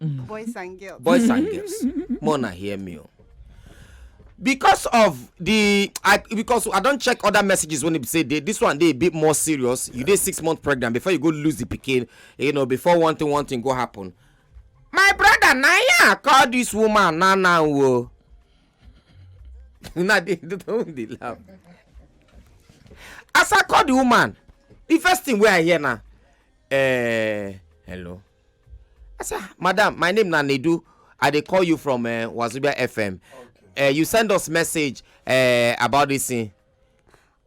boys and girls boys and girls more na hear me o because of the i because i don check other messages when e be say dey this one dey a bit more serious you dey six months pregnant before you go lose the pikin you know before one thing one thing go happen my brother na him i call this woman na na o una dey don dey laugh as i call the woman the first thing wey i hear na eh hello I said, ah, Madam, my name na Nedu. I dey call you from uh, Wazubia FM. Okay. Uh, you send us message uh, about this thing.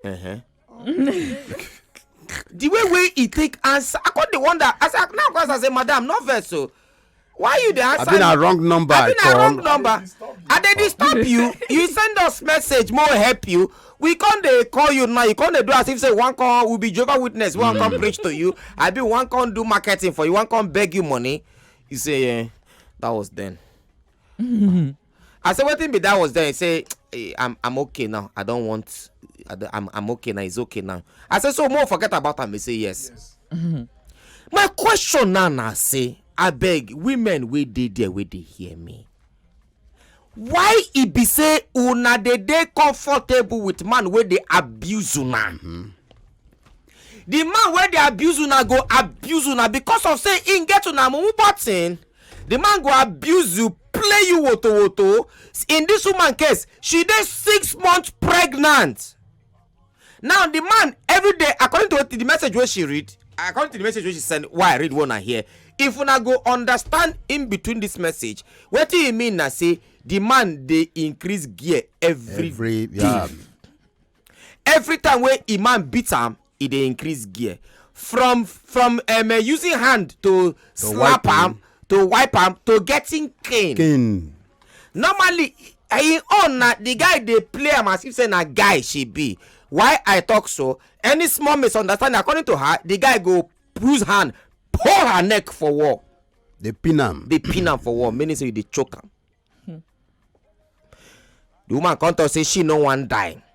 Uh-huh. the way wey he take answer, I come dey wonder. I said, now because I say, Madam, no vex so. Oh. Why you dey answer? I been a wrong number. I been a wrong number. I dey disturb you. You send us message, more help you. we come dey call you now you come dey do as if say we wan come we be jehovah witness we wan come preach to you abi we wan come do marketing for you we wan come beg you money you say eh that was then i say wetin be that was then he say eh, i'm i'm okay now i don want I don- i'm i'm okay now it's okay now i say so mo forget about am he say yes my question now na say abeg women wey dey there wey dey hear me why e be say una dey dey comfortable with man wey dey abuse una the man wey dey abuse una go abuse una because of say im get una mumu button the man go abuse you play you woto woto in this woman case she dey six months pregnant now the man every day according to the message wey she read according to the message wey she send why i read one and here if una go understand in between this message wetin e mean na say the man dey increase gear every, every day yeah. every time wey e man beat am e dey increase gear from from um, uh, using hand to, to slap am to wipe am to getting cane. cane normally im own na the guy dey play am as if say na guy she be why i talk so any small misunderstanding according to her the guy go use hand pull her neck for wall dey pin am dey pin am for wall meaning say you dey choke am the woman come talk say she no wan die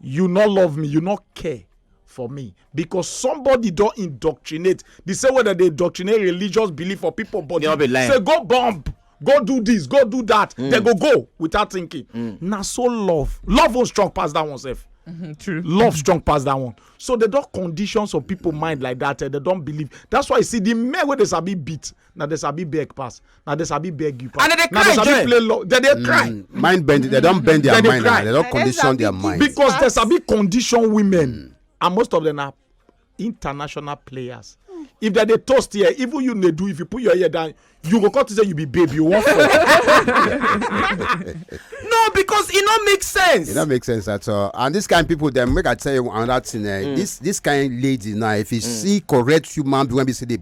You no love me, you no care for me because somebody don indoctrinate the same way that they indoctrinate religious belief for people body say go bomb go do this go do that mm. they go go without thinking mm. na so love love won't strong pass that one sef Mm-hmm, true. Love strong past that one. So they don't condition some people mind like that. Eh, they don't believe. That's why you see the men where they sabi beat. na dem sabi beg pass na dem sabi beg you pass And they dey na cry dem sabi join. play law dem dey cry Mm, mind bend they don bend their They dey mind cry. and they don They dey condition sabi their give mind because dem Pass. sabi condition women and most of them na international players if dem dey toast here even you dey do if you put your ear down you go come think say you be babe you wan fall no because e no make sense. e no make sense at all and this kind people dem make i tell you another thing eh this this kind lady now if you see correct human being wey be say dey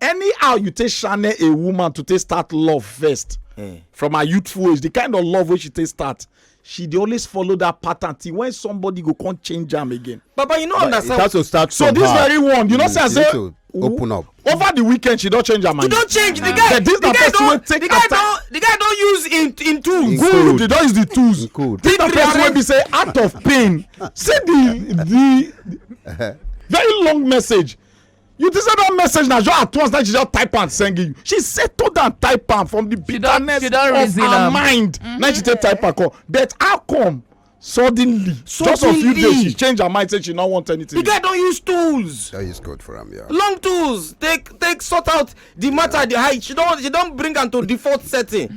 anyhow you take channel a woman to take start love first eh. from her youthful age the kind of love wey she take start she dey always follow that pattern till when somebody go come change am again. baba you no understand. it has to start so from her so this very one you know mm, say i say open up. over the weekend she don change her mind. she don change the guy the guy don the guy don the guy don use him him tools. good he don use the tools. good this na person wey be say out of pain see the the very long message You think say that message na just at once na she just type am send you. She settle down type am from the She don- bitterness she don of reason her am. mind. Na she take type am come. But how come suddenly, just of few Suddenly. days she change her mind say she no want anything. The guy don use tools, That is good for him, yeah. long tools, take take sort out the matter the high she don she don bring am to default setting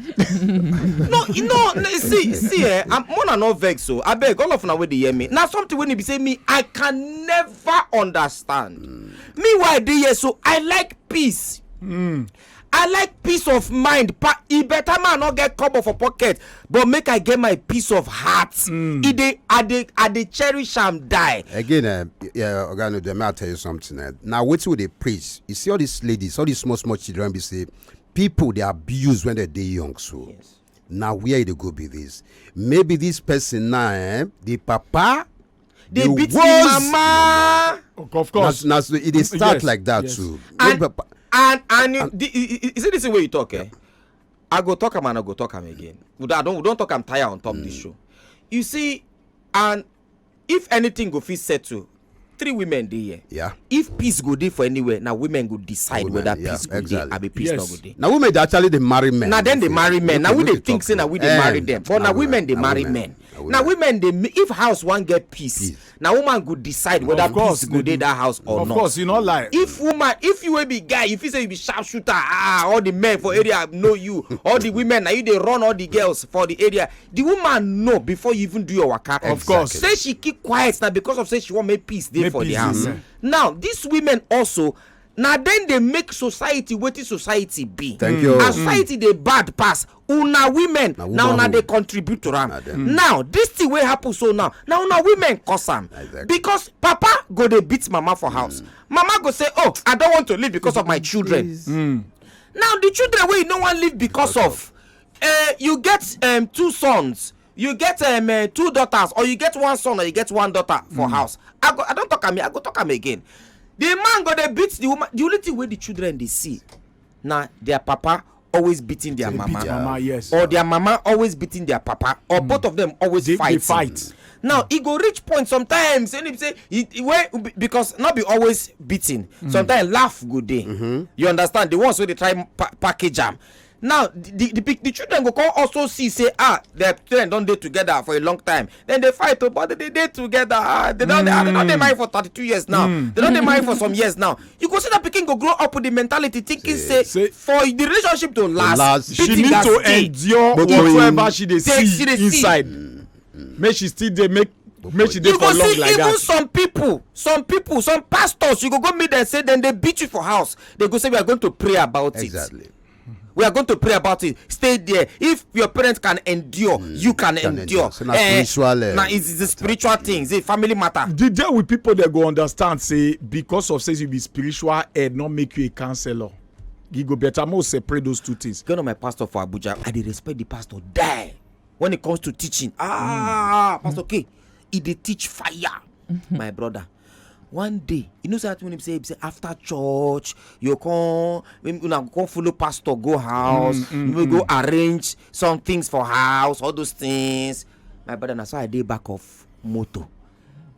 no you know see see eh i'm more than not vex o abeg all of una wey dey hear me na something wey be say me i can never understand mm. me why i dey here so i like peace mm. i like peace of mind pa e better man no get cover for pocket but make i get my peace of heart mm. e dey i dey i dey cherish am die. again uh, yeah, oga no dem i tell you something uh, na wetin we dey preach you see all these ladies all these small small children be say people dey abuse when they dey young so. Yes. na where e dey go be this maybe this person now eh, the papa dey beat the mama. of course na so e dey start yes, like that yes. too. and and and, and the, is it the same way you talk eh? Yeah. I go talk am and I go talk am again. We don't, I don't, we don't talk am tire on top mm. this show. You see, and if anything go fit settle, three women dey here. Yeah. If peace go dey for anywhere, now women go decide women, whether yeah, peace go exactly. dey, abi peace yes. no go dey. Now women dey actually dey marry men. Now then they marry men. Now we dey think say now we dey marry them, but now women dey marry men. Now women dey if house wan get peace, na woman go decide whether Of course, peace go dey that house or of not course you no lie if woman if you wey be guy you feel say you be sharp shooter ah all the men for area know you all the women na you dey run all the girls for the area the woman know before you even do your waka Of course. say she keep quiet na because of say she wan make peace dey Make for the peace dey, house yeah. now these women also na dem dey make society wetin society be Thank you. as society dey bad pass una women na una womanhood. dey contribute to am Na dem. now this thing wey happen so now na una women cause am Exactly. because papa go dey beat mama for house mama go say oh i don want to leave because of my children Please. now the children wey you no wan leave because of uh, you get um, two sons you get um, uh, two daughters or you get one son or you get one daughter for house i go i don talk am here, i go talk am again the man go dey beat the woman the only thing wey the children dey see na their papa always beating their They beat mama their mama, yes. or their mama always beating their papa or both of them always They- they fighting fight. now e go reach point sometimes and e be say e e- wey be- because no be always beating sometimes laugh go dey you understand the ones wey dey try pa package am now the the pic- the children go come also see say ah their parents don dey together for a long time dem dey fight o but dem dey dey together ah they don dey ah, they don dey marry for thirty two years now Mm. they don dey marry for some years now you go see that pikin go grow up with the mentality thinking say say- for the relationship to last last, she beating need gats to dey. endure But when- whatever she dey Dey- see she dey see. inside make she still dey make make she dey you go for long see like even that some people some people some pastors you go go meet them say dem dey beat you for house they go say we are going to pray about it exactly. we are going to pray about it stay there if your parents can endure mm, you can, can endure, endure. So na eh, spiritual eh, na it's, it's a spiritual thing it's a family matter. the day with people dey go understand say because of say you be spiritual head no make you a counsellor you go better more separate those two things. get on my pastor for abuja i dey respect the pastor die when it comes to teaching ah mm. pastor k e dey teach fire mm -hmm. my brother one day you know say that one be say be say after church you come una go come follow pastor go house mm, mm, you may go mm. arrange some things for house all those things my brother na so i dey back of motor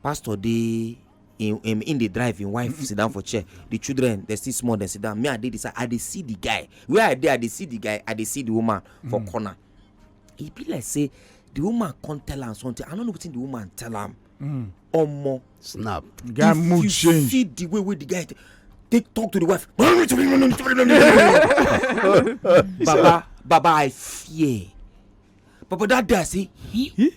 pastor dey in in in dey drive im wife sit down for chair the children dey still small dey sit down me i dey the side i dey see the guy where i dey i dey see the guy i dey see the woman for corner e be like say the woman come tell am something i no know wetin the woman tell am mm. omo snap guy mood change if you see the way wey the guy take talk to the wife baba baba i fear baba that day i say he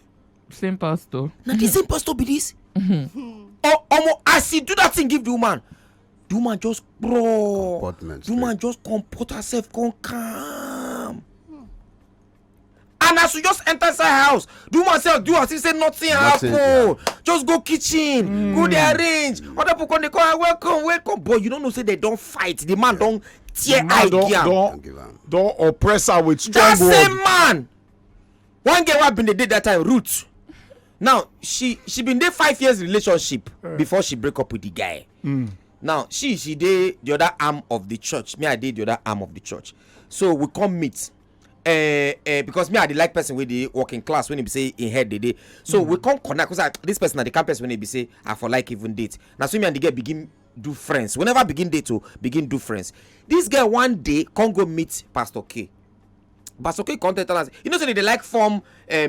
same pastor na the same pastor be this mm-hmm. oh, omo as he do that thing give the woman the woman just crawl the woman just comport herself come calm and as you just enter inside her house the woman say do as if say nothing, nothing happen yeah. just go kitchen mm. go there arrange mm. other people come dey call her welcome welcome but you don't know say they don't fight the man yeah. don tear eye give am don oppress her with strong word that same man one girl wey bin dey date that time ruth now she she been dey five years relationship yeah. before she break up with the guy mm. now she she dey the other arm of the church me i dey the other arm of the church so we come meet eh, eh, because me i dey like person wey dey work in class when e be say im head dey dey so we come connect because this person na the kind person wey e be say i for like even date na so me and the girl begin do friends we never begin date o begin do friends this girl one day come go meet pastor k pastor k come tell tell am say you know say they dey like form um,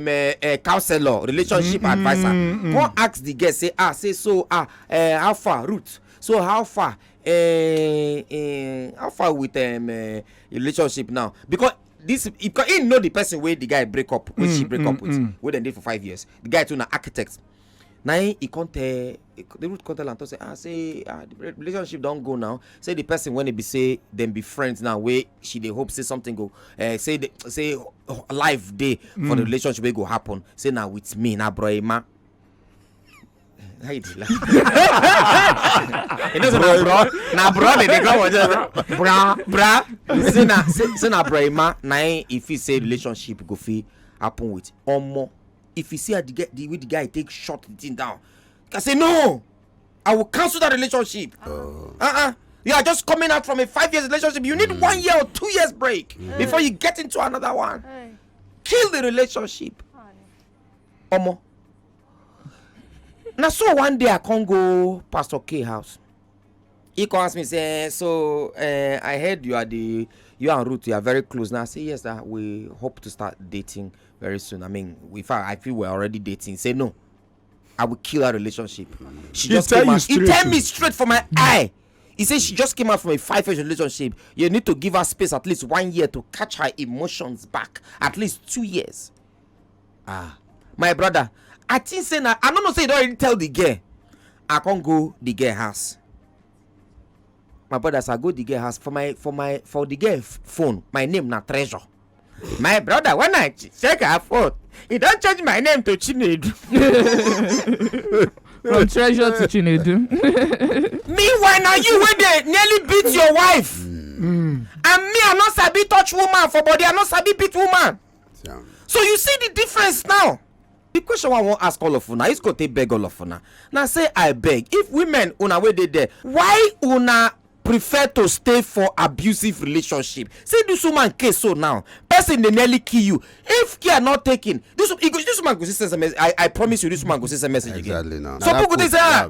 uh, uh, counselor relationship adviser come ask the girl say ah say so ah uh, how far root so how far eh, eh, how far with um, uh, relationship now because this because he know the person wey the guy break up wey mm, she break mm, up with mm. wey dem dey for five years the guy too na architect na him he come tell the root come tell am talk say ah say ah the relationship don go now say the person wey be say dem be friends now wey she dey hope say something go uh, say the, say life dey mm. for the mm. relationship wey go happen say na with me na bro emma Ay, dila. you know, bro, bro, na bro, they dey come with bra, bra. Say na, say na bro, ma, na if he say relationship go fit happen with omo. If he see how the guy, the way the guy take shot the thing down, I say no, I will cancel that relationship. Uh oh. uh. -uh. You are just coming out from a five years relationship. You need mm. one year or two years break mm. before you get into another one. Kill the relationship. omo na so one day i come go pastor k house he come ask me say so uh, i heard you are the you and ruth you are very close now i say yes uh, we hope to start dating very soon i mean in fact i feel we're already dating he say no i will kill our relationship she he just came out he tell me straight for my eye he say she just came out from a five year relationship you need to give her space at least one year to catch her emotions back at least two years ah my brother i think say na i no know say you don already tell the girl i come go the girl house my brother as i go the girl house for my for my for the girl f- phone my name na treasure my brother when i ch- check her phone e don change my name to chinedu from treasure to chinedu meanwhile na you wey dey nearly beat your wife and me i no sabi touch woman for body i no sabi beat woman Yeah. so you see the difference now the question i wan ask all of una is go take beg all of una na say i beg if women una wey dey there why una prefer to stay for abusive relationship see this woman case so now person dey nearly kill you if care not taken this, this woman go see sms i i promise you this woman go see sms again exactly now. some people go say ah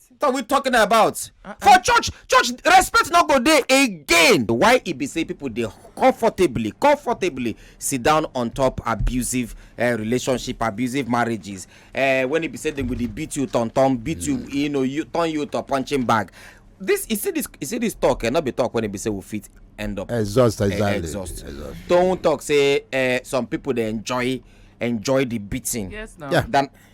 are we talking about uh-uh. for church church respect no go dey again why e be say people dey comfortably comfortably sit down on top abusive uh, relationship abusive marriages uh, when e be say dem go dey beat you turn turn beat mm. you you know you turn you to punching bag this you see this you see this talk eh no be talk when e be say we fit end up exhaust eh, exactly exhaust don talk say uh, some people dey enjoy enjoy the beating yes, no. yeah. than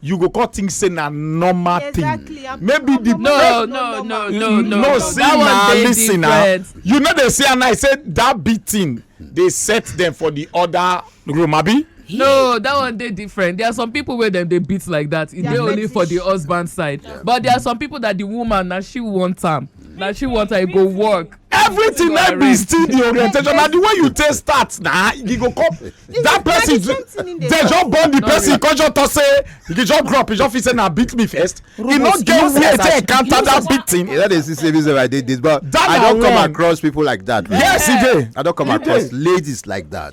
you go come think say na normal thing Exactly, I'm- maybe I'm the not- No, person- no, no, no, no. no see That one na dey lis ten na different. you no dey see am now say that big thing dey set them for the other room abi no that one dey different there are some people wey dem dey beat like that e They are dey only for the fetish. husband side but there are some people that the woman na she want am na she want am e go work everything na be still the orientation na the way you take start na you go come that person dey just born the person come just talk say he just grow up he just feel say na beat me first he no get where to encounter that beating. you no dey see say this i dey this but i don come across people like that. yes e dey. i don come across ladies like that.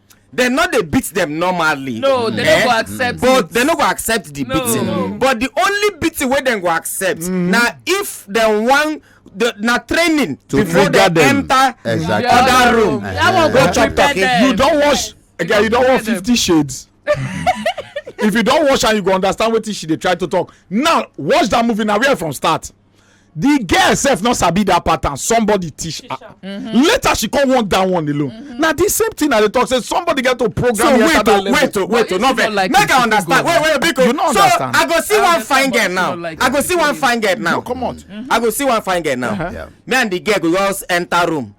dem no dey beat dem normally no dem no eh? go accept but dem no go accept the beating but the only beating wey dem go accept mm-hmm. na if dem wan the, na training to before they them. enter exactly. other room. Yeah. Go chop talking. You don't watch. Again, you don't watch Fifty Shades. if you don't watch and you go understand what she they try to talk. Now watch that movie now. Where from start? the girl sef no sabi that pattern somebody teach her mm-hmm. later she come want that one alone mm-hmm. na the same thing i dey talk say somebody get to program so wait to oh, wait to oh, wait to oh, no vex make i understand wait wait biko so i go see one fine girl now i go see one fine girl now come on i go see one fine girl now me and the girl go just enter room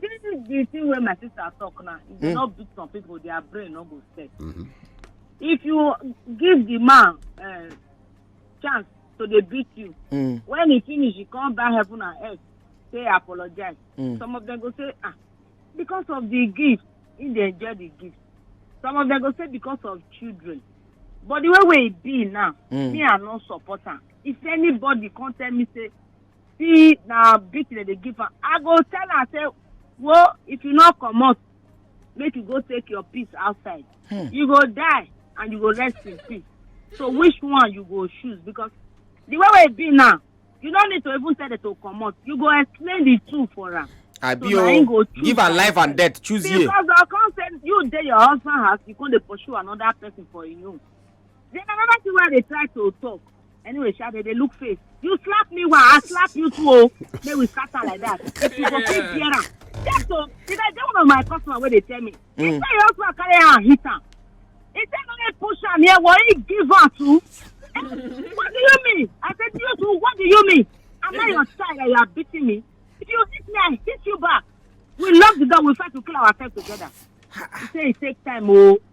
This the thing where my sister talk now. If you mm. not beat some people, their brain not go set. Mm-hmm. If you give the man uh, chance to they beat you, mm. when he finish, he come back heaven and earth, say apologize. Mm. Some of them go say, ah, because of the gift, he they enjoy the gift. Some of them go say because of children. But the way we be now, mm. me I not support am. If anybody come tell me say see na beat dem dey give am i go tell am say wo if you no comot make you go take your peace outside hmm. you go die and you go rest in peace so which one you go choose because the way wey e be now you no need to even tell them to comot you go explain the two for am abi o give am life and death choose here. because i come say you dey your husband house you come dey pursue another person for you. own then another thing wey i dey try to talk anyway sha dey dey look face you slap me wa i slap you too o make we scatter like that if you go fit bear am yes o if i get one of my customer wey dey tell me he mm. say your husband carry am hit am he say no dey push am here but he give am too eh, what do you mean i say you too what do you mean am i your child and you are beating me if you hit me i hit you back we lock the door we fight to kill ourselves together he say he take time o. Oh.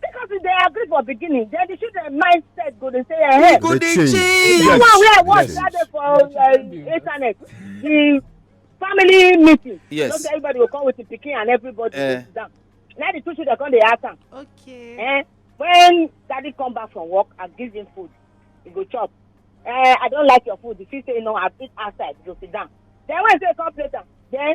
because we dey agree for beginning then the children mindset go dey say eh go dey change the one wey i watch that day for uh, internet the family meeting yes so everybody go come with the pikin and everybody uh, go down na the two children come dey ask am okay eh when daddy come back from work and give him food he go chop eh i don like your food the fit say no i fit outside go sit down then when he say come plate am then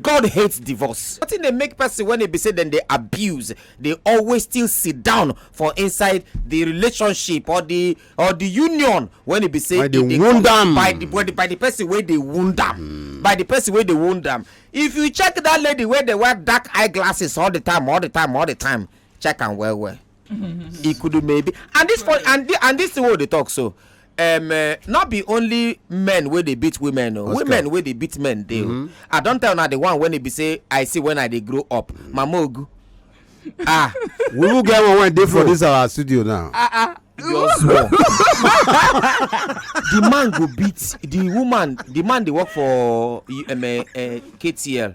God hates divorce. Wetin dey make person when e be say dem dey abuse dey always still sit down for inside the relationship or the or the union when e be say by the e wound am by the by the, by the person wey dey wound am mm. by the person wey dey wound am. If you check that lady wey dey wear dark eyeglasses all the time all the time all the time check am well well. e could maybe and this point and the, and this thing wey dey talk so um, uh, not be only men wey dey beat women o oh. women wey dey beat men dey o oh. mm-hmm. i don tell una the one wey e be say i see when i dey grow up mama ogu ah we will get one wey dey for this our studio now ah ah just small the man go beat the woman the man dey work for um, uh, uh, ktl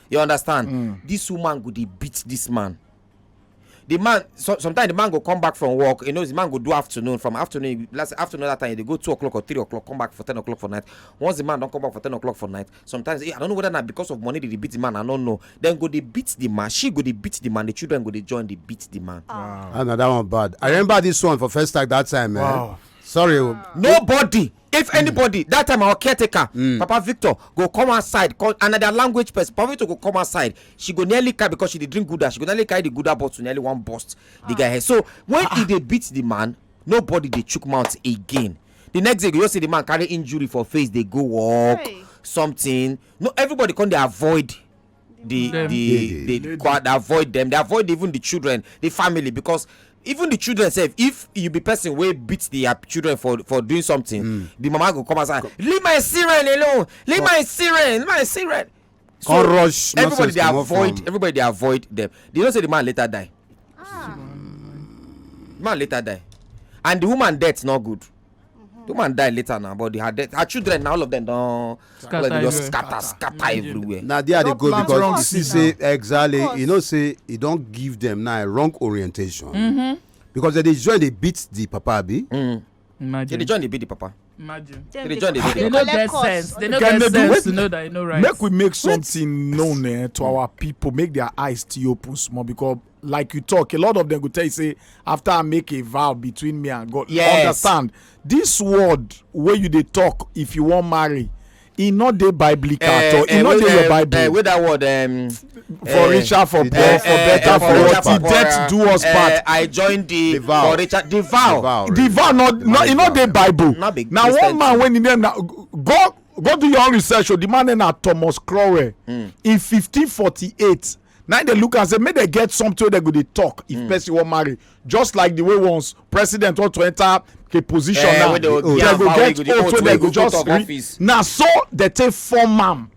you understand mm. this woman go dey beat this man the man so, sometimes the man go come back from work you know the man go do afternoon from afternoon last afternoon that time they go two o'clock or three o'clock come back for ten o'clock for night once the man don come back for ten o'clock for night sometimes eh, i don't know whether na because of money they dey beat the man i no know then go dey beat the man she go dey beat the man the children go dey join dey beat the man. Ah. wow ah, na that one bad i remember this one for first time that time. Eh? Wow. Eh? sorry. Wow. nobody if hmm. anybody that time our caretaker hmm. papa victor go come outside come and na their language person papa victor go come outside she go nearly carry because she dey drink gouda she go nearly carry the gouda bottle nearly wan burst the guy ah. head so when ah. he dey beat the man nobody dey chook mouth again the next day you go just see the man carry injury for face dey go work something no everybody come dey avoid the Them. the the, the crowd they avoid them they avoid even the children the family because even the children sef if you be person wey beat their children for for doing something mm. the mama go come outside leave my siren alone leave my siren leave my siren so Come rush everybody dey avoid from... everybody dey avoid them they know say the man later die ah. man later die and the woman death no good the woman die later now but her death her children na all of them don scatter everywhere scatter scatter everywhere. na there i dey go because you see say exactly you know say e don give them now wrong orientation. Mm -hmm. because they dey join dey beat the papa abi. Mm. Imagine. They join the the papa. Imagine. They, they join the They no get sense. They no get sense to know that you know right. Make we make something known eh, to our people. Make their eyes still open small because like you talk a lot of them go tell you say after i make a vow between me and god yes. understand this word where you they talk if you want marry e no dey biblical eh, at all e eh, no dey your bible eh, wey that word um, for richer for poor for better for worse the death do us part i join the for richer the vow the vow no e no dey bible na one man wey him name na go go do your own research o oh, the man name na thomas crowell hmm. in 1548 Now they look and say, may they get something they go they talk if mm. person will marry. Just like the way once president want to enter a position eh, now, they, go get oh, so they go just re- now so they take form ma'am.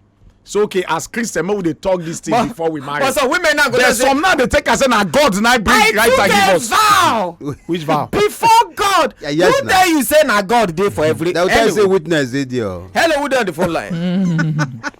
so okay as christian make we dey talk this thing but, before we marry but some women now go there some now dey take am say na god na bring I right time give us vow which vow before god yeah, yes, who tell you say na god dey for every hello who tell you say witness dey there hello who dey on the phone line.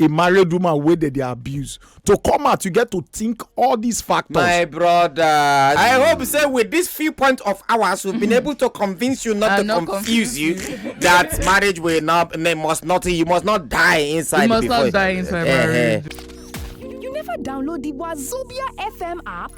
a married woman wey dem dey abuse to come out you get to think all these factors. my brother i hope say with this few point of hours we've been able to convince you not to not confuse you that marriage will not must not you must not die inside. you must not die inside marriage. you never download the wazobia fm app.